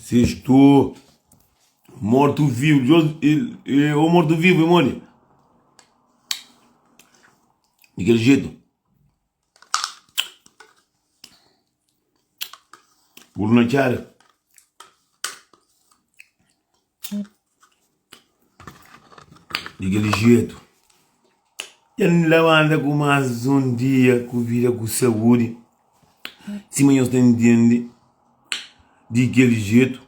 Si stu mortu-vivu, djos e o mortu-vivu e modi di kel jetu. Puru na txada. Di kel jetu, el N labanta ku más un dia ku vida ku saúdi sima nhos ta intende Di kel jetu,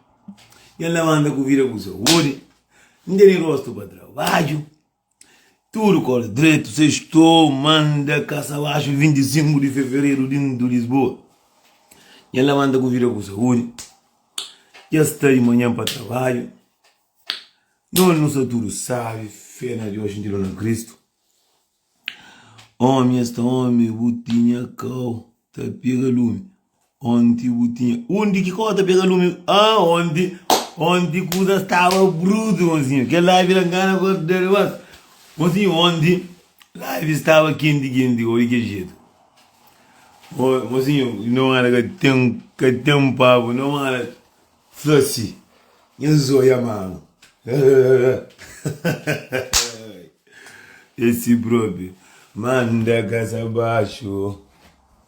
el N labanta ku vida ku saúdi N tene rostu pa trabadju. Tudu kóra dretu sextou manda kasa baxu 25 di fevereru dintu Lisboa nha lamanta ku vida ku saúdi dja sta di manhan pa trabadju nos nu sta tudu sábi fé na Deus xinti dor na Kristu Ómi es ta ómi bu tinha kau ta pega lumi Onti bu tinha. Undi ki kó ta pega lumi? Ah, onti, onti kuza staba brutu, mozinho. Kel live la ngana kó ta da-l bas. Mozinho, onti live staba kenti, kenti, oi kel jetu. Ô, mozinho, no mala ka ten, ka ten pabu, no mala fla si. Nha zóia mama. Esi propi. Manda kasa baxu.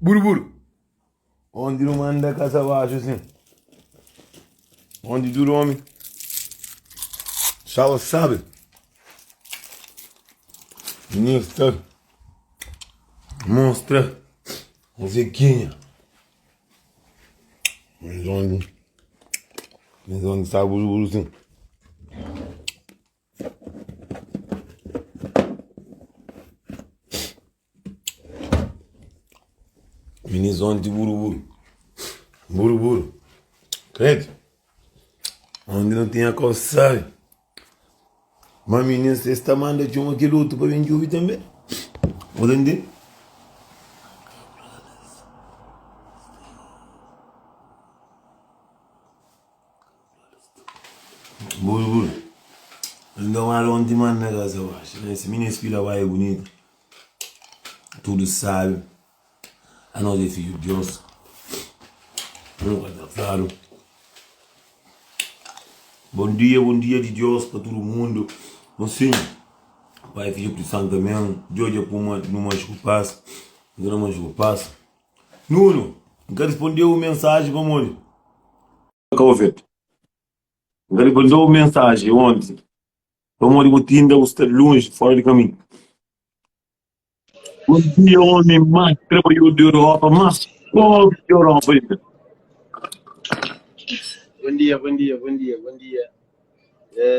Buru-buru. Onde nu manda kasa baxu sin. Onde tudu omi staba sabe. Ninho sta mostra Zequinha. Mas onde, mas onde está buru-buru sin. Minis onti buru-buru, buru-buru, krédu, onti nu tinha konsai, má minis es ta manda txoma kel-otu pa ben djobe tanbe, bu ta ntende. Buru buru es nda wara un di manda gas a baxa na esse mini es pila bai é bunita tudu sabe anos é fidju dios nu ka ta fadu bom dia bom dia di dios pa tudu mundu bom sinhu pai fidju pri santu amen djodja puma nu manxi ku pas nka na manxi ku pas nunu nka rispondeu un mensaji pamodi. ka ovel bu ka debe dou mensaji onti pamodi bu tinda bu sta lunji fora di kamin un dia omi mas trabaiodu di europa mas pobri di europa inda Bom dia, bom dia, bom dia, bom dia. É,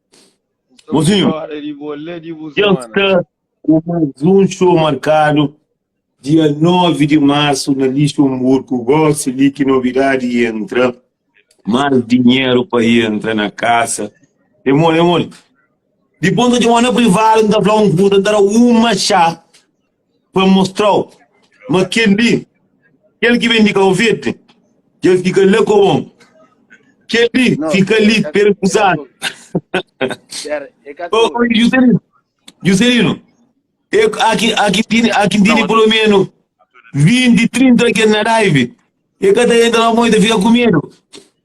Mozinho, dja sta ku más un xou markadu dia 9 di marsu na Lixumburku. Gósi li ki novidadi entra, más dinheru pa entra na kasa. É mole, é mole. Dipôs N ta txoma-u na privadu, N ta fla-u un kuza, N ta da-u un matxá. pa mostra-u ma kel li, kel ki ben di Kau Verdi, dja fika la ku bon. Kel li fika li perekusadu. Ô, ô, Juscelino, Juscelino, e, aki, aki tini, aki tini pelo menos 20, 30 ken na live. E ka ta entra la mó, e ta fika ku medu.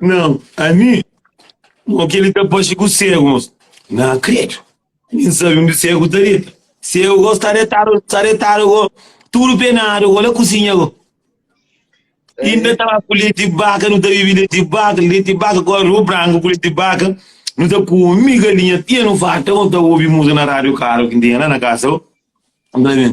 Nan, ami? Mo ki li ta paxi ku segu, mos? Nan kredu, ami n sabi undi segu ta deta. Segu go sta detadu, sta detadu go, tudu penadu go, la kusinha go. Inda ta ba ku leti baka, nu ta bibi leti baka, leti baka ku arus branku ku leti baka. Nu ta kumi galinha até nu farta, mos ta obi muza na radiu karu ki n tinha la na kasa go. N fla ben,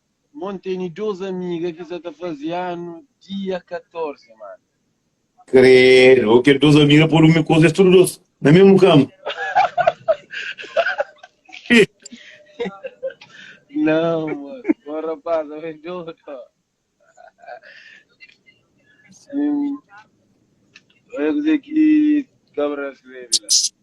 Mon teni dos amiga ki sa ta fazi anu dia 14 man. Credo, o kel dos amiga podu mi koza es tudu dos na mesmu kama. Não, mano. Bom rapaz, eu é doido. Sim. Eu ia dizer que cabra escreve lá.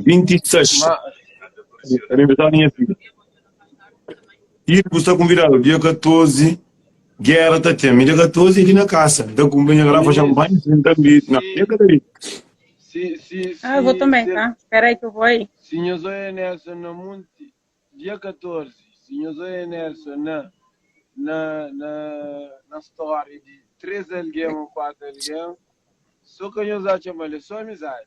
26 má é aniversáriu di nha fidju txip bu sta konvidadu dia 14 géra ta ten mi dia 14 é di na kasa mi ta kunpra nha garafa xanpanha si n ta bri na nha ka ta bri Ah, eu vou também, tá? Espera aí que eu vou aí. Si nhos oia Nelson na Munti, dia 14, si nhos oia Nelson na, na, na, na story de três alguém ou quatro alguém, só que nhos acha mal, é só amizade.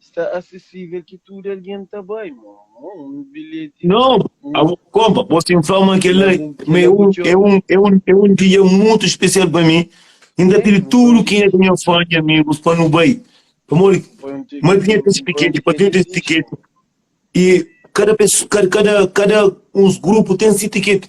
sta asesível ki tudu algen ta bai. Má, un bilheti. Nau, a bu konpa. Bo sim fla ma kel la ma é un é un é un é un dia mutu spesial pa mi. N ta pidi tudu kenha ta nha fã i amigus pa nu bai. Pamodi ki ma tinha kes tiketi? Pa tudu es tiketi i kada peso kada kada uns grupu ten si tiketi.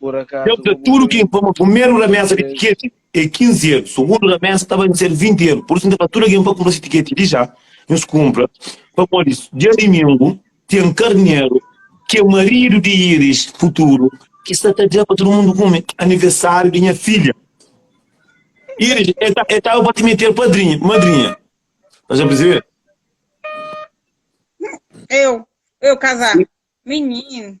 Deu da tudu ki informa primeru ramesa di tiketi e 15 eru, sugundu ramesa ta bai ser 20 eru, pur isu N ta fla tudu algen pa kunpra si tiketi di ja, nhos kunpra pamodi dia dimingu ten karneru ki é maridu di Iris futuru ki sta ta da pa tudu mundu kume anivesariu di nha fidja Iris e ta ba ta mete-l padrinha, madrinha ta ja prizebe. Eu, eu kazá, minhin.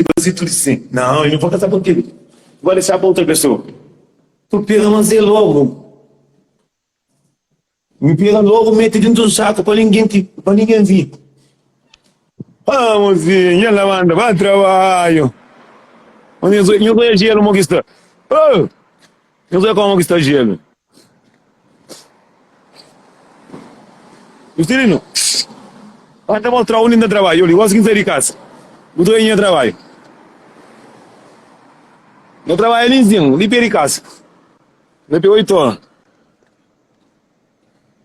N ta faze tudu si. Nau, N ka ta papia. N bai dexá pa otu pesoa. Papia, mas e lógu. N pega lógu, mete dintu un saku pa ningen ki, pa ningen vi. Ó mozinhu, dja labanda, ba trabadju. Mozinhu, nhos bai jelu mo ki sta. Ó! Nhos bai kómu ki sta jelu. Justilino, N ta mostra-u undi N ta trabadja. Djobe, N gosi ki N sai di kasa, bu ta oja nha trabadju. N ta trabadja li nzinhu, li pé di kasa, na pé oitu ora.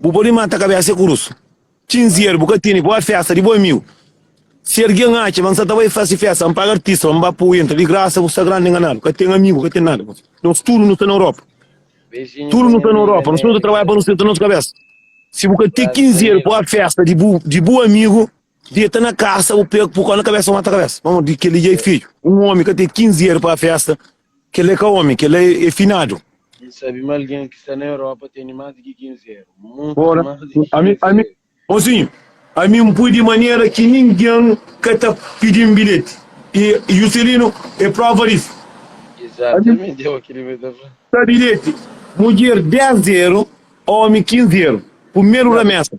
Bu pode mata kabésa e kurusu. Txinzier, bu ka tene, bo a festa di bo amigu. Si ergen atxa ma N sa ta bai fase festa, N paga artista pa N ba po entra di grasa, bu sta grandi enganadu. Ka ten amigu, ka ten nada. Nos tudu nu sta na Europa. Tudu nu sta na Europa. Nos tudu ta trabadja pa nu seta nos kabésa. Si bu ka te kinzier, bo a festa di bu amigu. Deta na kasa bu pega pukó na kabesa mata kabesa pamo di keli dja é fidju un omi ka ten 15 er pa festa kela é ka omi kela é finadu. N sabe ma algen ki sta na Europa tene más di ki 15 er, mutu más di ki 15 er. Mosinhu, ami N pui di manera ki ningen ka ta pidi-m bilheti i Juscelino é prova disu. Exatamenti, é o ki Ribeiro ta fla. Bilheti, mudjer 10 er, omi 15 er, purmeru ramesa.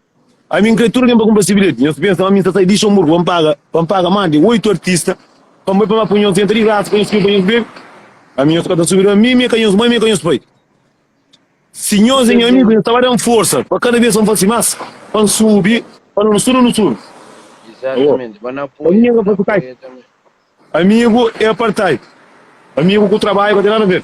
Ami n kre tudu algen pa kunpra si bilheti. Nhos pensa ma mi n ta sai di Xinburgu pa n paga pa n paga más di oitu artista pa n bai pa má pui nhos ntra di grasa pa nhos kume pa nhos bebe? Ami nhos ka ta subi riba mi, mi é ka nhos mai, mi é ka nhos pai. Si nhos é nha amigu, nhos ta ba da-m forsa pa kada bes pa n fase más pa n subi pa nu subi nu subi. Awo, pa mi nhos ka fase kai. Amigu é apartai. Amigu ku trabadju ka ten nada a ver.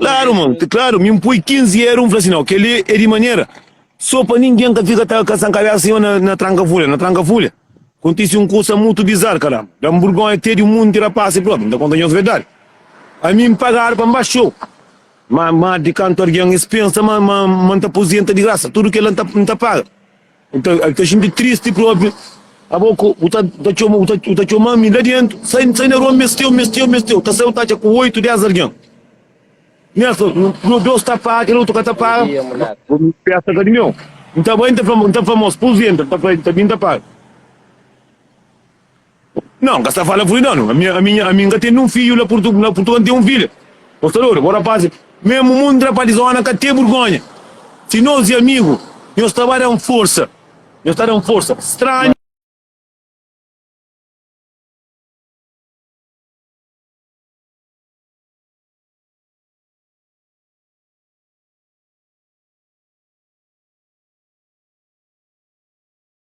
Klaru, mon, ti klaru. Mi N poi kinzi eru, N fla si, nau, kel-li e di manera, so pa ningen ka fika ta kasa kabesa senhor na na tranka folha. Na tranka folha, kontisi un kusa mutu bizar, karamba. Da-m burgonha te di un munti rapaz si propi, N ta konta nhos verdadi. Ami N paga arpa N ba xou, ma ma di kantu argen es pensa ma ma ma N ta pozenta di grasa, tudu kel-la N ta N ta paga. Bu ta ta xinti tristi propi. Abo ku bu ta ta txoma bu ta bu ta txoma mi la dentu. Sai sai na rua mesteu mesteu mesteu. Ta sai bu ta atxa ku oitu dez algen. Nha so no dos ta paga kel otu ka ta paga. Festa ka di meu. N ta bai n ta fla n ta fla mos pus entra n ta fla el ta bin ta paga. Não, n ka sta fala furida no. Ami, ami, ami n ka tende un fidju la Purtu, la Purtugal n ten un fidja. Postador, bo rapaz, mesmu mun dra pa dizona ka te burgonha. Si nos e amigu, nhos ta ba da un forsa, nhos ta da un forsa. Stranhu.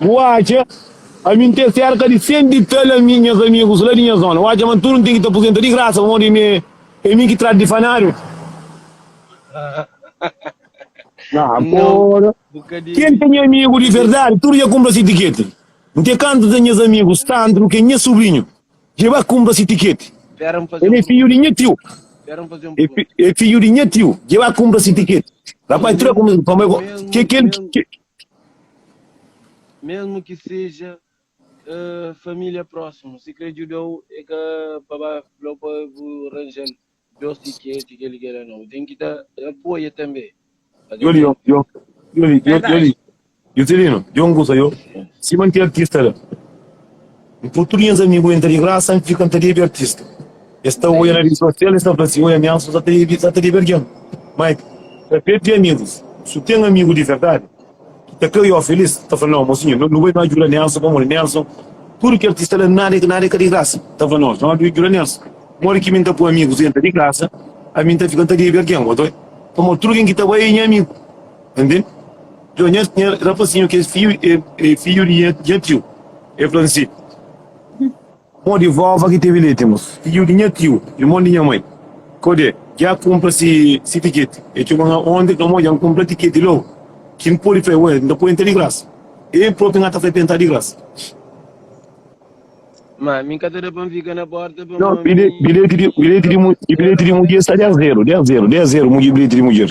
Bu atxa? Ami N ten serka di 100 di tal ami nhas amigus la di nha zona. Bu atxa ma N tudu N ten ki ta puzenta di grasa pamodi ami é mi ki tradu di fanáriu? Agora, ken ki é nha amigu di verdadi tudu dja kunpra si tiketi. N ten kantu ta nhas amigu Sandro ki é nha subrinhu dja ba kunpra si tiketi. El é fidju di nha tiu. El é fidju di nha tiu dja ba kunpra si tiketi. Rapazi, tudu dja kumesa. Pamodi kel ki Mesmu ki seja familia prosimu si kre djudau e ka pa ba flau pa bu ranjal dos ti ke ti kel gera no bu ten ki ta apoia tanbe pa kel gera. N pô tudu nhas amigu entra di grasa, N fika N ta debe artista Es ta oia na redi sosial, es ta fla si, Oi amiansu sa ta debe sa ta debe algen mai ta krê ten amigus, si bu ten amigu di verdadi ki ta krê oi-u felis ta fla nau, mosinhu nu nu bai nu djuda Nelson pamodi Nelson tudu ki artista la nada e nada e ka di grasa ta fla nos nu bai djuda Nelson modi ki mi N ta pô amigus entra di grasa ami N ta fika N ta debe algen oi pamodi tudu ken ki ta bai e nha amigu ta ntende. Djon, nha, nha rapazinhu ki é fiu, é, é fiu di nha, nha tiu. El fla-m si, Mo di vova ki tevi leti, mos, fiu di nha tiu, irmon di nha mai. Kodê, dja kunpra si, si tiketi. El txoba nha ondi, fla, Mo, dja N kunpra tiketi lógu. Ki N pode fla-e? Ué, N ta poi entra di grasa. El propi nha ta fla-e pa entra di grasa. Má, mi N ka ta da pa N fika na pórta, pamodi. Djon, bilheti, bilheti di, bilheti di, bilheti di mudjer sta dés zeru, dés zeru, dés zeru mudjer, bilheti di mudjer.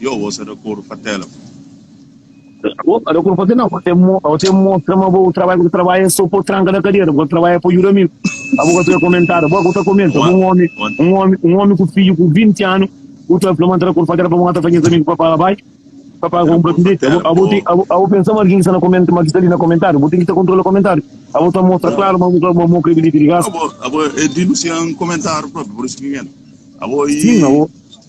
Yo sta di acordu pa tela. Bo sta di acordu pa tela? Bo ten mostra ma bo trabadja ku ta trabadja so pa tranka na kadera. Bo ka ta trabadja pa juda amigu. Abo ka ta fika komentadu. Bo ka bu ta komenta ku un omi, un omi, un omi ku fiju ku 20 anu bu ta fla ma N sta di acordu pa tela pa bu mata fla nhas amigu pa paga bai pa paga pa kunpra bilheti. Abo abo ten abo pensa ma algin sta na komenta ma ki sta li na komentadu? Bo ten ki ta kontrola komentadu. Abo ta mostra klaru ma bu ka ma bu kre bilheti di grasa. Abo abo e dinusia un komentadu propi pur isu ki N yanda. Abo i.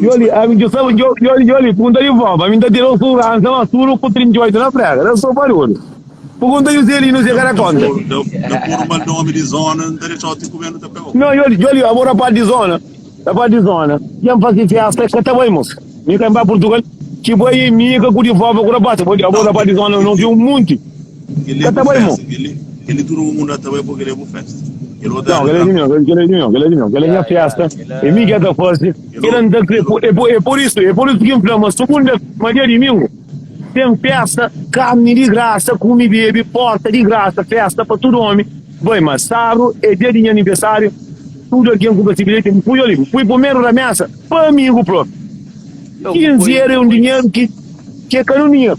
Yoli, ami djo saba, djo, yoli, yoli, pergunta di voba, ami nta tene un suguransa mas tudu ku 38 na prega, da so barulhu. Pergunta Juselino si e ka da konta. No, yoli, yoli, abo na parti di zona, na parti di zona, si ami fasi festa e ka ta bai mos, mi ka mi bai Portugal, ki bai e mi ka ku di voba ku rapasi, abo na parti di zona no obi un munti. Ka ta bai mo. Nau, kel-li é di mi, nau, kel-li é di mi, kel-li é di mi, kel-li é nha fésta, é mi ki el ta faze. El a nda krê. É pur, é pur isu, é pur isu ki N fla ma sugunda, ma dia dimingu ten fésta, karni di grasa, kume, bebe, porta di grasa, fésta pa tudu ómi. Bai, ma sábdu é dia di nha aniversáriu, tudu algen ku ba se bilheti, bu pui-u li, bu pui primeru na mésa pa amigu própi. Kinzi era é un dinheru ki, ki é ka-l un dinheru.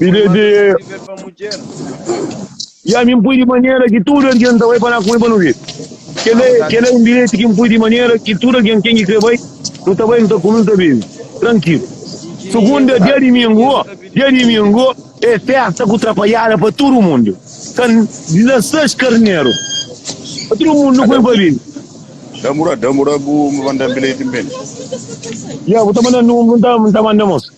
Bíblia Manda diz. nós viver pa mudjer. E a mi n pui di manera ki tudu algen ta bai pa na ku mi pa nu vive. Kel la é- kel la é un bilheti ki n pui di manera ki tudu algen ken ki krê bai, nu ta bai, nu ta kume, nu ta bebe trankilu. Sugunda, dia dimingu, dia dimingu é festa ku trapalhada pa tudu mundu. Ka n na ses karneru. Pa tudu mundu nu pui pa vive. Damura, damura bu manda bilheti n bende. Ya, bu ta manda númeru, n ta manda mos.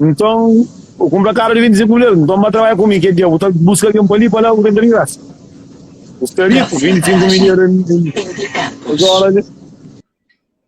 Nton, bu kunprakaba di ben dize ku el, Nton, ba trabadja ku mi. Ke dia bu ta buska algen pa li, pa la, ku renta di grasa? Bu sta riku! Binti sinku mil dia ta.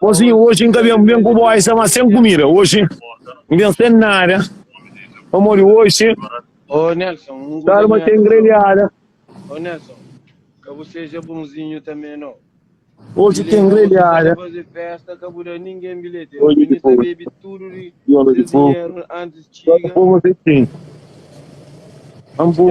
Mozinho, hoje N ka ben ben ku bo Aisha mas sem comida hoje N ben sem nada pamodi hoje ta alma ta engrelhada hoje ta engrelhada hoje ki foi viola di fogo só ta pova sem ti N bu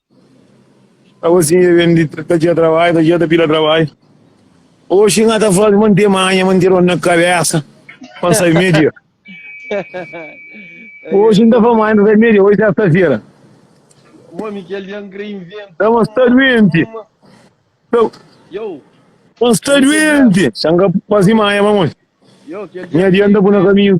Agosi N vem di ta dja trabadja, ta dja ta pila trabadja. Oxi N ta faze monte manha, monte rota na kabesa pa N sai media. Oxi N ta faze manha, N ta sai media, oxi sesta-fera. Ta ma N sta duenti, ta N sta duenti, N ka faze manha pamodi nha dia N ta pui na kaminhu.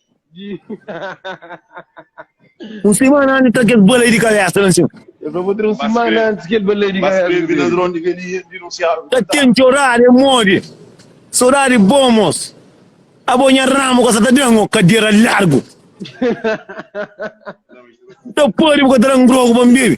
Un simana antis ta kes balei di kabesa na sima. Ta ten txorada e modi sodadi bon mos. Abo nha ramu ka sa ta dan o kadera largu. N ta padi bu ka ta dan drogu pa N bebi.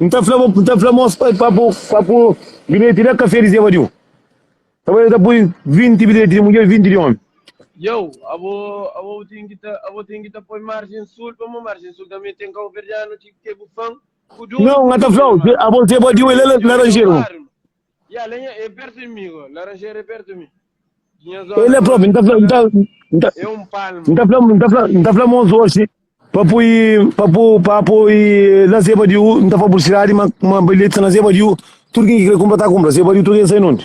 N ta fla, n ta fla mos pa pa pu pa pu bilheti na kafé di Zé Vadiu. Ta bai, el ta pui 20 bilheti di mudjer, 20 di omi. Djeu, abo abo bu ten ki ta abo ten ki ta poi marjen sul, pamô marjen sul tanbe ten kauverdianu ki ke bu fan ku dunu. Nau, N ta fla-u, Zé abo Zé Vadiu el é laranjeru. El la propi, N ta fla-u, N ta, N ta, N ta fla-u, N ta fla, N ta fla mos oxi pa pui, pa pu, pa pui na zeba di u, N ta fla publisidadi ma, ma bilheti sta na zeba di u, tudu kin ki kre kunpra ta kunpra, zeba di u tudu ken sai nunde.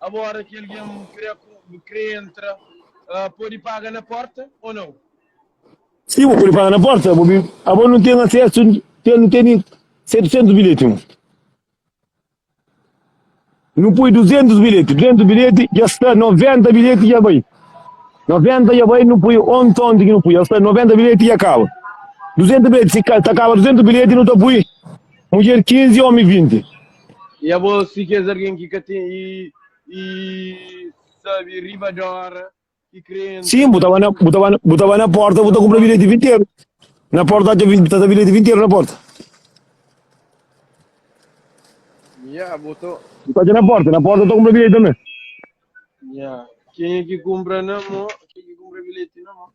Agora ki alguém kre kre entra podi paga na porta ou não? Sim, bo podi paga na porta, bo bi abo não tem acesso, tem não tem 700 bilhete não. Não pui 200 bilhete, 200 bilhete já está 90 bilhete já vai. 90 já vai, não pui on ton de que não pui, já está 90 bilhete já acaba. 200 bilhete, se ca- tá acaba 200 bilhete não tá pui. Mulher 15, homem 20. I abo si kes algen ki ka ten i i sabe riba di ora ki krê entra. Sim, bu ta ba na, bu ta ba, bu ta ba na porta, bu ta kumpra bilheti di vinteru. Na porta ta vi- ta ta bilheti di vinteru na porta. Ya, bu ta. Bu ta atxa na porta, na porta ta kumpra bilheti tanbe. Ya. Kenha ki kumpra na mô, kenha ki kumpra bilheti na mô.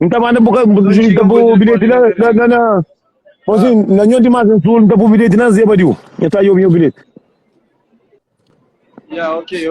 N ta manda bu, bu N ta bu bilheti na, na, na, na Posin, ah. na nho demais em sul, n ta bu bilheti na Zebadiu. Eu ta eu meu bilhete. Yeah, ok, ok.